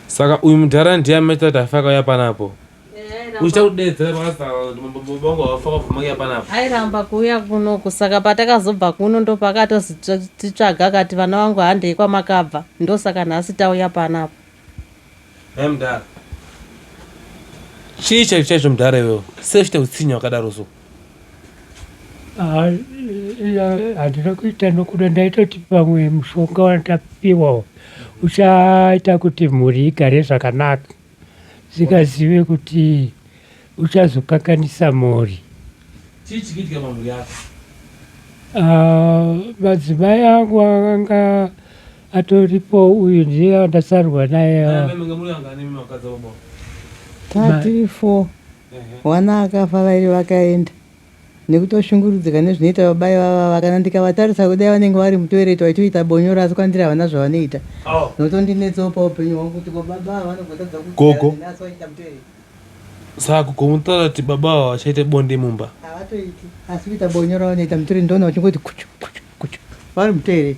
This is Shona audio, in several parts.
Saka uyu mudhara ndiye amaita kuti afe akauya panapo uchiita kudedzera pakazaabangu vafa vabvumakuya panapo airamba kuuya kunoku saka patakazobva kuno ndopakatozititsvaga akati vana vangu handei kwamakabva ndosaka nhasi tauya panapo hai mudhara chii chaizvo chaizvo mudhara iwewo sei uchiita kutsinha wakadaro so handina kuita nokuda ndaitoti pamwe mushonga wandapiwawo uchaita kuti mhuri igare zvakanaka singazive kuti uchazokanganisa mhuri ah, madzimai angu akanga atoripo uyu ndiye andasarwa naye ah. Wana akafa vairi vakaenda nekutoshungurudzika nezvinoita baba ivava kana ndikavatarisa kudai vanenge vari mutoilet vaitoita bonyora asi kwandiri havana zvavanoita zvinotondinetsawo paupenyu hwangu kuti ko baba ava vanogotadza kuziva neni asi vachiita mutoilet Saka komutora kuti baba ava vachaita bonde mumba? Havatoiti asi kuita bonyora vanoita mutoilet ndoona vachingoti kuchu kuchu kuchu vari mutoilet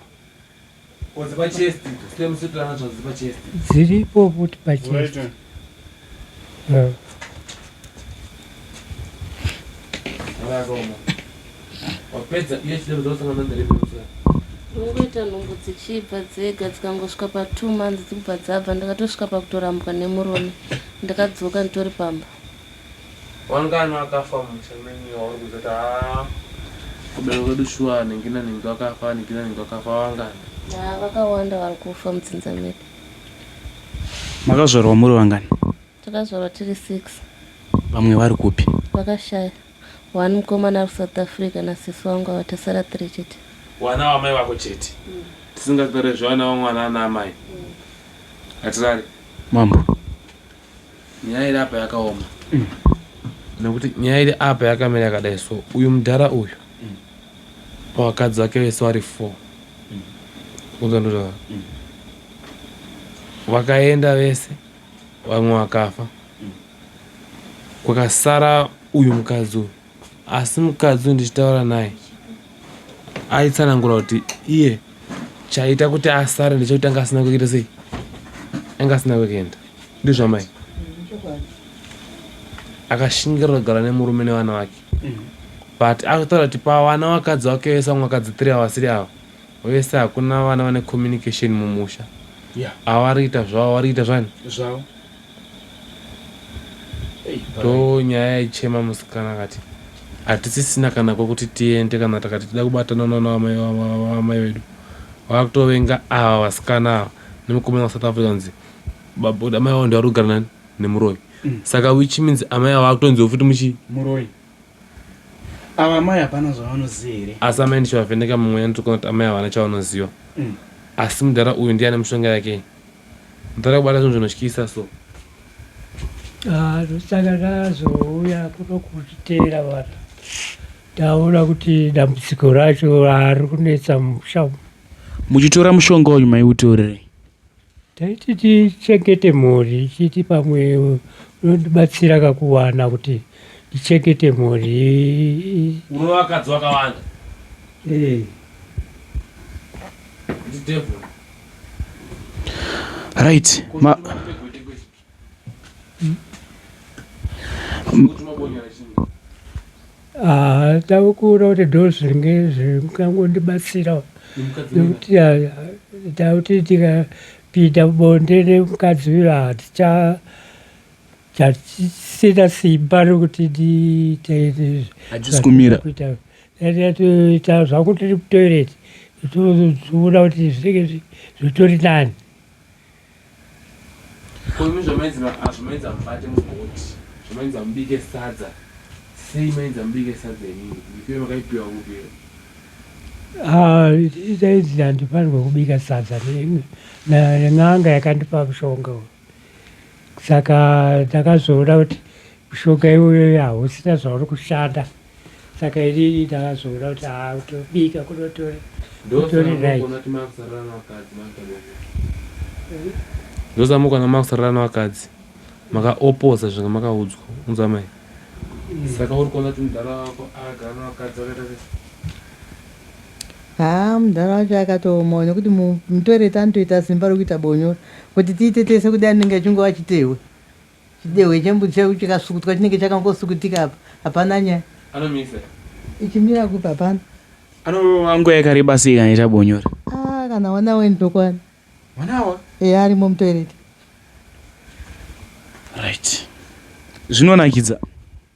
dziripo futi pachest wapedza iye chidero dzosangana nderebeusana ungoita nhumbu dzichibva dzega dzikangosvika patwo months dzikubva dzabva ndakatosvika pakutorambwa nemurume ndakadzoka nditori pamba Wanga ane akafa mumusha menyu iwe wauri kuzoti haa kuberwa kwedu shuwa anhingina nhingi wakafa anhigina nhingi wakafa wangani. Haa vakawanda vari kufa mudzinza medu. Makazvarwa muri vangani? Takazvarwa tiri six. Vamwe vari kupi? Vakashaya. One mukomana ari kuSouth Africa nasisi wangu ava tasara tiri chete. Wana wamai vako chete. Tisingatarezve wana wamwana ana amai. Hatirare. Mambo. Nyaya iri apa yakaoma. Nokuti nyaya iri apa yakamira yakadai so uyu mudhara uyu vakadzi vake vese vari four kuzondutaura vakaenda vese vamwe vakafa kwakasara uyu mukadzi uyu Asi mukadzi uyu ndichitaura naye aitsanangura kuti iye chaita kuti asare ndechekuti anga asina kuita sei anga asina kuenda ndizvo amai akashingirira kugara nemurume nevana vake but akutaura kuti pavana vakadzi vake vese vamwe vakadzi three avasiri ava vese hakuna vana vane communication mumusha avari kuita zvavo vari kuita zvani zvavo ndonyaya yaichema musikana akati hatisisina kana kwekuti tiende kana takati tida kubatana nana amai vedu vakutovenga ava vasikana ava nemukomana wasouth africa nzi babuda amai vavo ndivari kugara nani nemuroyi mm. saka which means amai ava vakutonziwa futi muchii muroyi ava amai hapana zvavanoziva here asi amai ndichavavheneka mumweya nditokona kuti amai havana chavanoziva mm. asi mudhara uyu ndiye ane mushonga yake Mdhara kubata zvinhu zvinotyisa so. Ah, zvochitanga zvazouya kuno kuzviteera vanhu. Ndaona kuti dambudziko racho hari kunetsa musha. Muchitora mushonga uyu maiutorerei? Taiti tichengete mhuri chiti pamwe unondibatsira kakuwana kuti ndichengete mhuri. Urova vakadzi vakawanda. Eh. Ndi devil. right ma ah, tave kuona kuti ndo zvinge zvikangondibatsira nekuti takuti tikapinda bonde nemukadzi uyo haticha chatisina simba rokuti nditeerezve Yatoita zvako tiri kutoilet toona kuti zvinenge zvitori nani. Ko imi zvamainzi ah, zvamainzi amubate mugoti zvamainzi amubike sadza sei mainzi amubike sadza inini ndipire makaipiwa kupira ah, dainzi handifanirwe kubika sadza nen'anga yakandipa mushonga uyu saka takazoona kuti mushonga iyoyo hausina zvauri kushanda saka inini ndakazoona kuti haa kutobika kunotori kutori right ndosamuka namakusarira navakadzi makaoposa zvinga makaudzwa unzwa mai saka uri kuona kuti mudhara wako agara navakadzi vakaita sei haa mudhara wacho akatooma nekuti mutoilet anotoita simba rekuita bonyora Kuti tiite tese kudai anenge achingova chitehwe. Chidehwe chembudzi chaiwo chikasukutwa chinenge chakangosukutika apa. Hapana nyaya. Anomisa. Ichimira kupi hapana. Anorova nguva yakareba sei kana ichita bonyora? Ah, kana one hour ndokwana. One hour? Eya arimo mutoilet. Right. Zvinonakidza.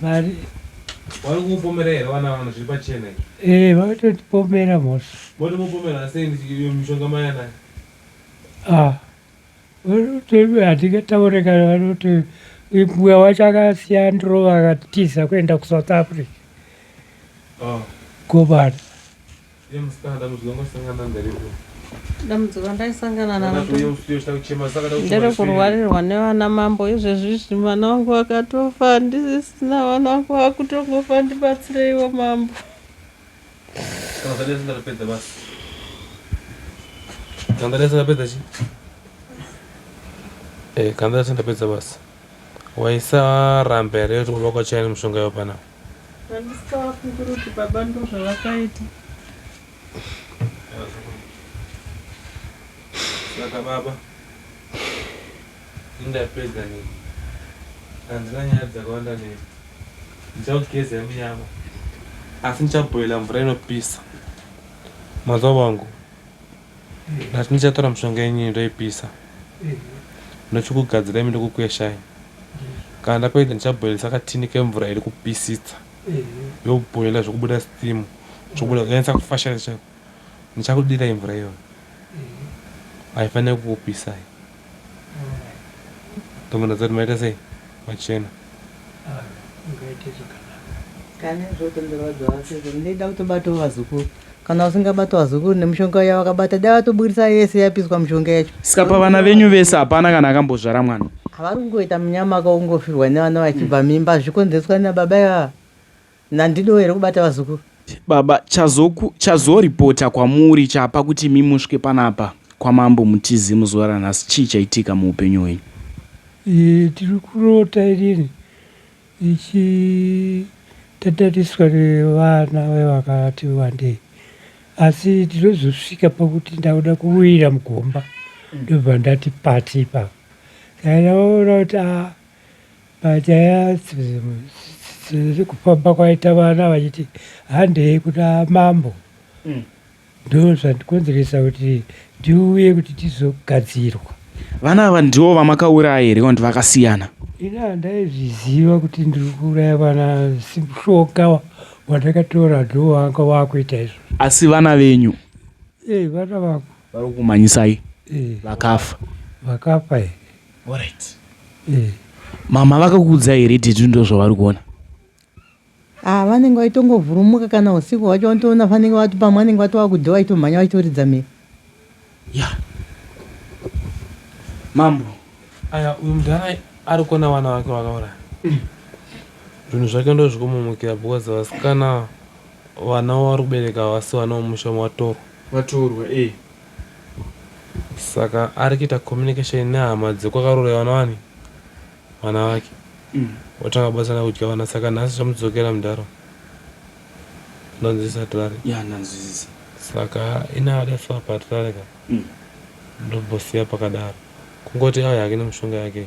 Vari vari kumupomera here vana vanhu zviri pachena izvi? Eh, vatotipomera mos. Motomupomera sei ndiyo mishonga maya nayo? Ah. Vanoti hatikataure kana vanoti mbuya wacho akasiya ndirova akatiza kuenda kuSouth Africa. Oh. Gobana. Iye musikana dambudziko randakasangana nderepi? Dambudziko randaisangana naro Ndakati uye usiye uchida kuchema saka ndakuchema ndere zvipi? kurwarirwa nevana mambo izvezvizvi mwana wangu akatofa handisisina mwana wangu wakutongofa ndibatsireiwo mambo. Kana zvanetsa ndatopedza basi. Kana zvanetsa ndapedza chi? Eh, kana zvanetsa ndapedza basi. Waisarambe here kuti kuba kwaChaini mushonga iwe pana? Handisavafungira kuti baba ndozvavakaita. Saka baba indapedza nini handina nyaya dzakawanda neni ndichakugezai munyama asi ndichabhoila mvura inopisa mazuva vangu Ndati ndichatora mishonga yenyu ndoipisa ndochikugadzirai ndokukweshai. Kana ndapedza ndichabhoilisa katini kemvura iri kupisisa yobhoila zvokubuda steam zvokubuda kunyanyisa kufashaisa chaiko. Ndichakudirai mvura iyoyo haifanire kukupisai. Tomboda dzati maita sei machena. Ah, ungaite zvakanaka. Kana zvotenderwa dzavasezvo ndida kutobatawo vazukuru. Kana usingabata vazukuru nemushonga uya wakabata dai watoburitsa yese yapiswa mushonga yacho. Saka pavana venyu vese hapana kana akambozvara mwana. Havari kungoita munyama kaungofirwa nevana vachibva mimba zvikonzeswa nababa ivava. Nandiniwo here kubata vazukuru. Baba chazoku chazo reporter kwamuri chapa kuti imi musvike panapa kwamambo mutizi muzuva ranhasi chii chaitika muupenyu hwenyu. Eh, tiri kurota irini ichi tatariswa nevana vevakati wandei asi tinozosvika pakuti ndauda kuwira mugomba ndobva ndati pati ipapa saka ndavaona kuti a ah, Panyaya dzekufamba kwaita vana vachiti handei kuna mambo mm. ndo zvandikonzeresa kuti ndiuye kuti tizogadzirwa. Vana ava ndivo vamakauraya here kana kuti vakasiyana? Ini handaizviziva kuti ndiri kuuraya vana, mushonga wandakatora ndowanga wakuita izvo. Asi vana venyu? Ee, vana vangu. vari kumanyisai vakafa vakafa here Alright. Eh. mama vakakuudzai here titi ndo zvavari kuona Ah, vanenge vaitongovhurumuka kana usiku hwacho vanotoona vanenge vati pamwe vanenge vatova kudhe vaitomhanya vaitoridza mhere ya mambo aya uyu mudhara ari kuona vana vake vakauraya zvinhu zvake ndo zvikumumukira because vasikana vana vari kubereka vasi vana vemusha matorwa vatorwa eh. Saka arikuita communication nehama dzekwakarorewa nani vana vake mm. Watanga batsana kudya vana saka nhasi zvamudzokera mudhara ndanzwisisa tirare ya ndanzwisisa saka inada so patirare ka mm. ndobosiya pakadaro kungoti auya hake nemushonga yake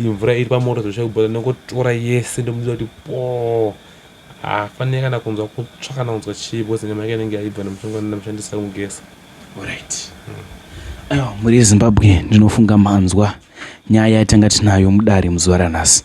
Iyi mvura iri pamoto zvesha kubhoda ndinongotora yese ndomuudza kuti poo haafanire kana kunzwa kutsva kana kunzwa chii because nyama yake inenge yaibva nemushonga wandina mushandisa kumugeza orit aiwa mhuri yezimbabwe ndinofunga manzwa nyaya yatanga tinayo mudare muzuva ranhasi